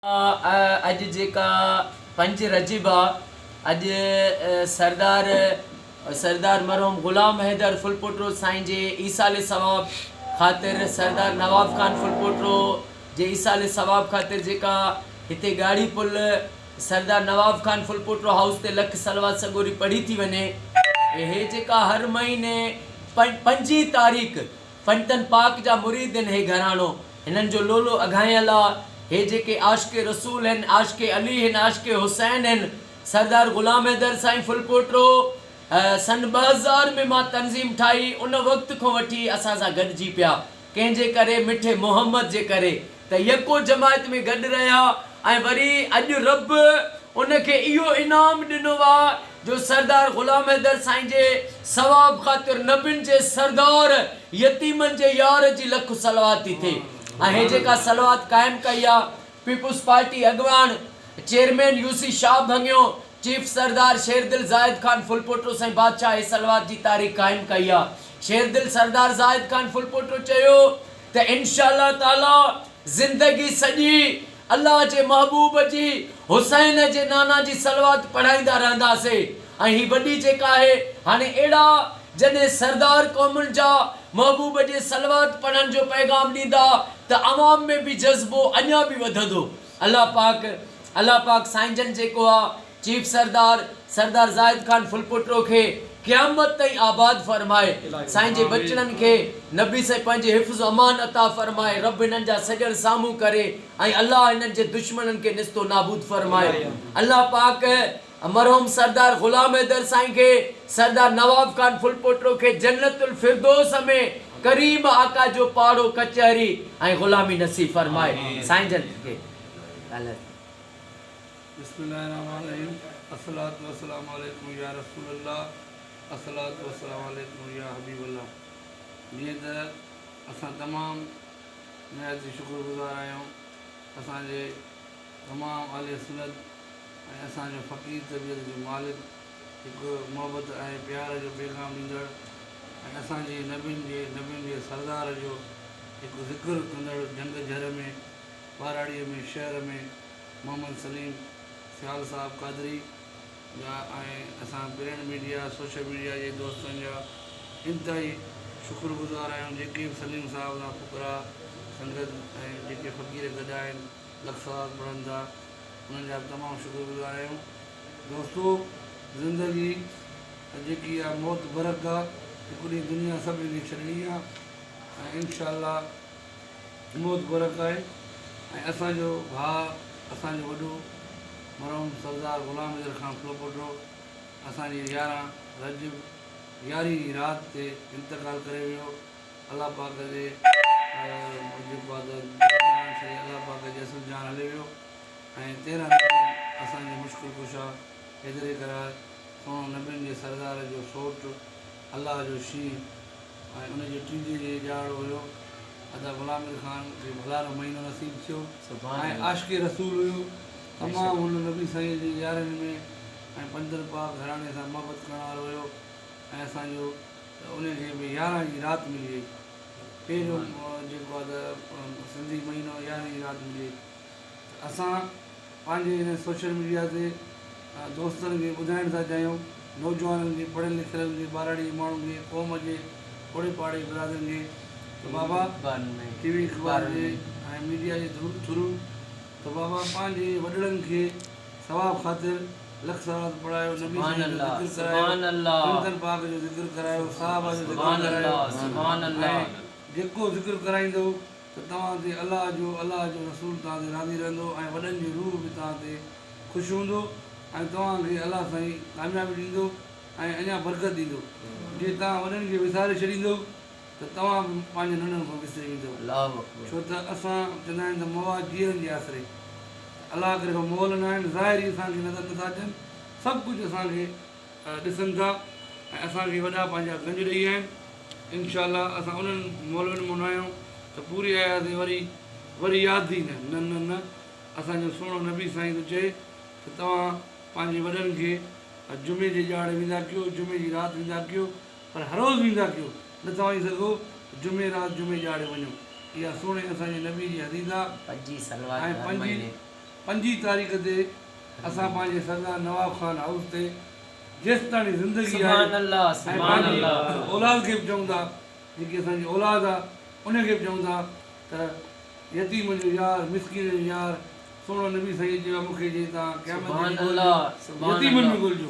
اڄ جيڪا پنج رجب آ اڄ سردار سردار مرحوم غلام حيدر ڦلپوٽو سائين جي ايصال ثواب خاطر سردار نواب خان ڦلپوٽو جي ايصال ثواب خاطر جيڪا هتي ڳاڙهي پل سردار نواب خان ڦلپوٽو هائوس تي لک صلوات سڳوري پڙهي ٿي وڃي هي جيڪا هر مهيني پنجين تاريخ فتن پاڪ جا مريد هن هي گهراڻو هنن جو لولو اگهايل آ هي جيڪي عاشق رسول هن عاشق علي هن عاشق حسين هن سردار غلام حيدر سائين ڦلپوٽو سن ٻه هزار ۾ مان تنظيم ٺاهي ان وقت کون وٺي اسان سان گڏجي پيا ڪنهن جي ڪري مٺي محمد جي ڪري ته يڪو جماعت ۾ گڏ رهيا ۽ وري اڄ رب ان کي اهو انعام ڏنو آ جو سردار غلام حيدر سائين جي ثواب خاطر نبين جي سردار يتيمن جي يار جي لک صلوات ٿي ٿئي ۽ هي جيڪا صلوات قائم ڪئي آ پيپلز پارٽي اڳواڻ چيئرمين يوسي شاهه ڀڱيو چيف سردار شيردل زاهد خان ڦلپوٽو سائين بادشاهه هي صلوات جي تاريخ قائم ڪئي آ شيردل سردار زاهد خان ڦلپوٽو چيو ته انشاء الله تعاليٰ زندگي سڄي الله جي محبوب جي حسين جي نانا جي صلوات پڙهائيندا رهنداسي ۽ هي وڏي جيڪا آهي هاڻي اهڙا جڏهن سردار قومن جا محبوب جي صلوات پڙهڻ جو پيغام ڏيندا ته عوام ۾ به جذبو اڃا به وڌندو الله پاڪ الله پاڪ سائين جن جيڪو آ چيف سردار سردار زاهد خان ڦلپوٽو کي قيامت تائين آباد فرمائي سائين جي ٻچڙن کي نبي سائين پنهنجي حفظ و امان عطا فرمائي رب هنن جا سڄڻ سامهون ڪري ۽ الله هنن جي دشمنن کي نست و نابود فرمائي الله پاڪ مرحوم سردار غلام حيدر سائين کي سردار نواب خان ڦلپوٽو کي جنت الفردوس ۾ ڪريم آقا جو پاڙو ڪچهري ۽ غلامي نصيب فرمائي سائين جن کي بسم الله الرحمٰن الرحيم الصلوة والسلام عليك يا رسول الله الصلوة والسلام عليك يا حبيب الله جيئن ته اسان تمام نهايت ئي شڪر گذار آهيون اسان جي امام اهل سنت ۽ اسان جو فقير طبيعت جو مالڪ هڪ محبت ۽ پيار جو پيغام ڏيندڙ ۽ اسان جي نبين جي نبين جي سردار جو هڪ ذڪر ڪندڙ جهنگ جهر ۾ ٻهراڙيء ۾ شهر ۾ محمد سليم سيال صاحب قادري جا ۽ اسان پرنٽ ميڊيا سوشل ميڊيا جي دوستن جا انتهائي شڪر گذار آهيون جيڪي به سليم صاحب سان فقراء سنگت ۽ جيڪي فقير گڏ آهن لک ثواب پڙهن ٿا انهن جا به تمام شڪر گذار آهيون دوستو زندگي جيڪي آهي موت برحق آهي هڪ ڏينهن دنيا سڀني کي ڇڏڻي آهي ۽ انشاء الله موت گورک آهي ۽ اسان جو ڀاء اسان جو وڏو مرحوم سردار غلام حيدر خان ڦلپوٽڙو اسان جي يارهن رجب يارهين جي رات تي انتقال ڪري ويو الله پاڪ جي جيڪو آهي ته جهان سائين الله پاڪ جي اسل جهان هلي ويو ۽ تيرهن رجب اسان جي مشڪل ڪشا حيدري قرار سهڻو نبين جي سردار جو سوٽ الله جو شينهن ۽ ان جي ٽيجهي جي ڏهاڙو هيو. ادا غلام مير خان کي ڀلارو مهينو نصيب ٿيو ۽ عاشق رسول هيو. تمام هن نبي سائينء جي يارين ۾ ۽ پنجتن پاڪ گهراڻي سان محبت ڪرڻ وارو هيو ۽ اسان جو ته انهي کي به يارهن جي رات ملي وئي. پهريون جيڪو آ ته سنڌي مهينو يارهن جي رات ملي وئي ته اسان پنهنجي هن سوشل ميڊيا تي دوستن کي ٻڌائڻ ٿا چاهيون نوجوانن کي پڙهيل لکيلن کي ٻهراڙي ماڻهن کي قوم جي اوڙي پاڙي برادرين کي ته بابا ٽي وي اخبارن جي ۽ ميڊيا جي ٿرو ته بابا پنهنجي وڏڙن کي ثواب خاطر لک صلوات پڙهايو نبي سائين جو ذڪر ڪرايو سنتن پاڪ جو ذڪر ڪرايو صحابه جو ذڪر ڪرايو ۽ جيڪو ذڪر ڪرائيندو ته توهان تي الله جو الله جو رسول توهان تي راضي رهندو ۽ وڏن جو روح به توهان تي خوش هوندو ۽ توهان کي الله سائين ڪاميابي ڏيندو ۽ اڃا برڪت ڏيندو جي توهان وڏن کي وساري ڇڏيندؤ ته توهان به پنهنجن ننڍن کان وسري ويندؤ ڇو ته اسان چوندا آهن ته مواد جيئرن جي آسري ته الله ڪري اهو مئل ناهن ظاهر ئي اسان کي نظر نٿا اچن سڀ ڪجهه اسان کي ڏسن ٿا ۽ اسان کي وڏا پنهنجا گنج ڏئي ويا آهن انشاء الله اسان انهن مولوين مون نه آهيون ته پوري ايازي وري وري ياد ئي نه نه نه نه اسان جو سهڻو نبي سائين ٿو چئي ته توهان پنهنجي وڏن کي جمعي جي ڄاڙ ويندا ڪيو جمعي جي رات ويندا ڪيو پر هروز ويندا ڪيو نه ته وڃي سگهو جمعي رات جمعي ڄاڙي وڃو اها سهڻي اسان جي نبي جي حديث آهي ۽ پنجي پنجين تاريخ تي اسان پنهنجي سردار نواب خان هائوس تي جيستاڻي زندگي آهي ۽ پنهنجي اولاد کي به چئون ٿا جيڪي اسان جي اولاد آ انهن کي به چئون ٿا ته يتيم جو يار مسڪين جو يار سهڻو نبي سيد چيو آهي مون کي جي توهان قيامت تي به ڳولجو يتيمن ۾ ڳولجو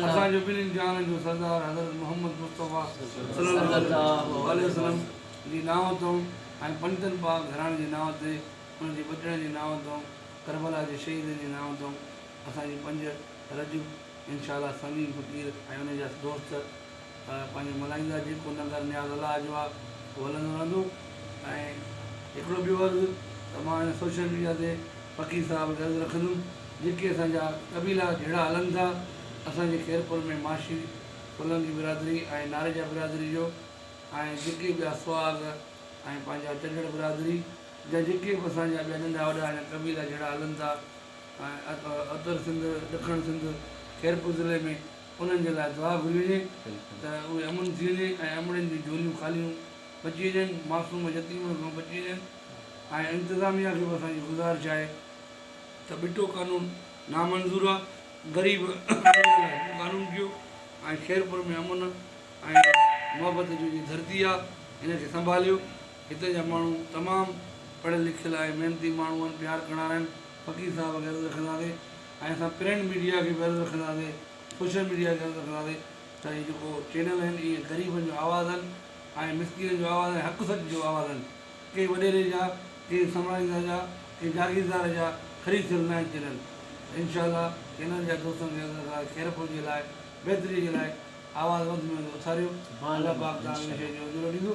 اسان جو ٻنهين جهانن جو سردار حضرت محمد مصطفيٰ صلي الله عليه وسلم جي نانء تئون ۽ پنڊتن پاڪ گهراڻي جي نانء تي ان جي ٻٽڙن جي نانء تئون ڪربلا جي شهيدن جي نانء تئون اسان جي پنج رجب انشاء الله سنگين فقير ۽ ان جا دوست پنهنجو ملهائيندا جيڪو ننگر نياز الله جو آ اهو هلندو رهندو ۽ هڪڙو ٻيو عرض ته مان هن سوشل ميڊيا تي فقير صاحب کي عرض رکندم جيڪي اسان جا قبيلا جهيڙا هلن ٿا اسان جي خيرپور ۾ معاشي ڪلنگي برادري ۽ ناريجا برادري جو ۽ جيڪي ٻيا سهاڳ ۽ پنهنجا چڙهڙ برادري جا جيڪي به اسان جا ٻيا ننڍا وڏا آهن قبيلا جهڙا هلن ٿا اتر سنڌ ڏکڻ سنڌ خيرپور ضلعي ۾ انهن جي لاء دعا گهري وڃي ته اهي امن ٿي وڃي ۽ امڙين جون جهوليون خاليون بچي وڃن معصوم يتيمن کان بچي وڃن ۽ انتظاميا کي به اسان جي گذارش آهي ته ٻٽو قانون نامنظور آهي غريب امير لاء هڪ قانون ڪيو ۽ خيرپور ۾ امن ۽ محبت جي جي ڌرتي آهي ان کي سنڀاليو هتي جا ماڻهو تمام پڙهيل لکيل آهي محنتي ماڻهو آهن پيار ڪنڙا رهن فقير صاحب کي عرض رکنداسي ۽ اسان پرنٽ ميڊيا کي به عرض رکنداسي سوشل ميڊيا کي عرض رکنداسي ته هي جيڪو چينل آهن اهي غريبن جو آواز آهن ۽ مسڪينن جو آواز ۽ حق سچ جو آواز آهن ڪنهن وڏيري جا ڪنهن سمراهيندا جا ڪنهن جاگيردار جا خريد ٿيل نه آهن چينل ته انشاء الله چينل جا دوستن کي عرض رکنداسي خير پهچي لاء بهتري جي لاء آواز وڌ ۾ وڌ اٿاريو الله پاڪ توهان کي ان شئي جو اجرو ڏيندو.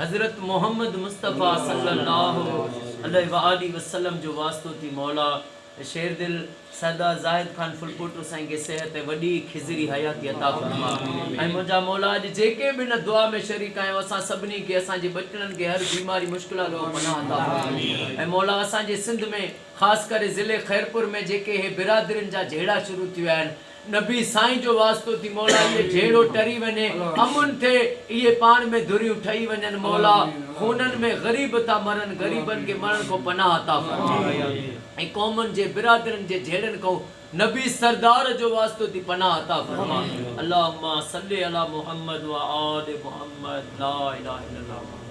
حضرت محمد مصطفيٰ صلّي اللّٰه عليه واٰله وسلّم جو واسطو ٿي مولا شيردل سردار زاهد خان ڦلپوٽو سائين کي صحت ۽ وڏي کزري حياتي عطا فرما ۽ منهنجا مولا اڄ جيڪي به ان دعا ۾ شريڪ آهيون اسان سڀني کي اسان جي ٻچڙن کي هر بيماري مشڪلات کان پناهه عطا فرما ۽ مولا اسان جي سنڌ ۾ خاص ڪري ضلعي خيرپور ۾ جيڪي هي برادرين جا جهيڙا شروع ٿي ويا آهن نبي سائين جو واسطو ٿي مولا اهي جهيڙو ٽري وڃي امن ٿئي اهي پاڻ ۾ ڌريون ٺهي وڃن مولا خونن ۾ غريب ٿا مرن غريبن کي مرڻ کان پناهه عطا فرما ۽ قومن جي برادرين جي جهيڙن کان نبي سردار جو واسطو ٿي پناهه عطا فرما اللهم صل علي محمد وآل محمد لا اله الا الله محمد.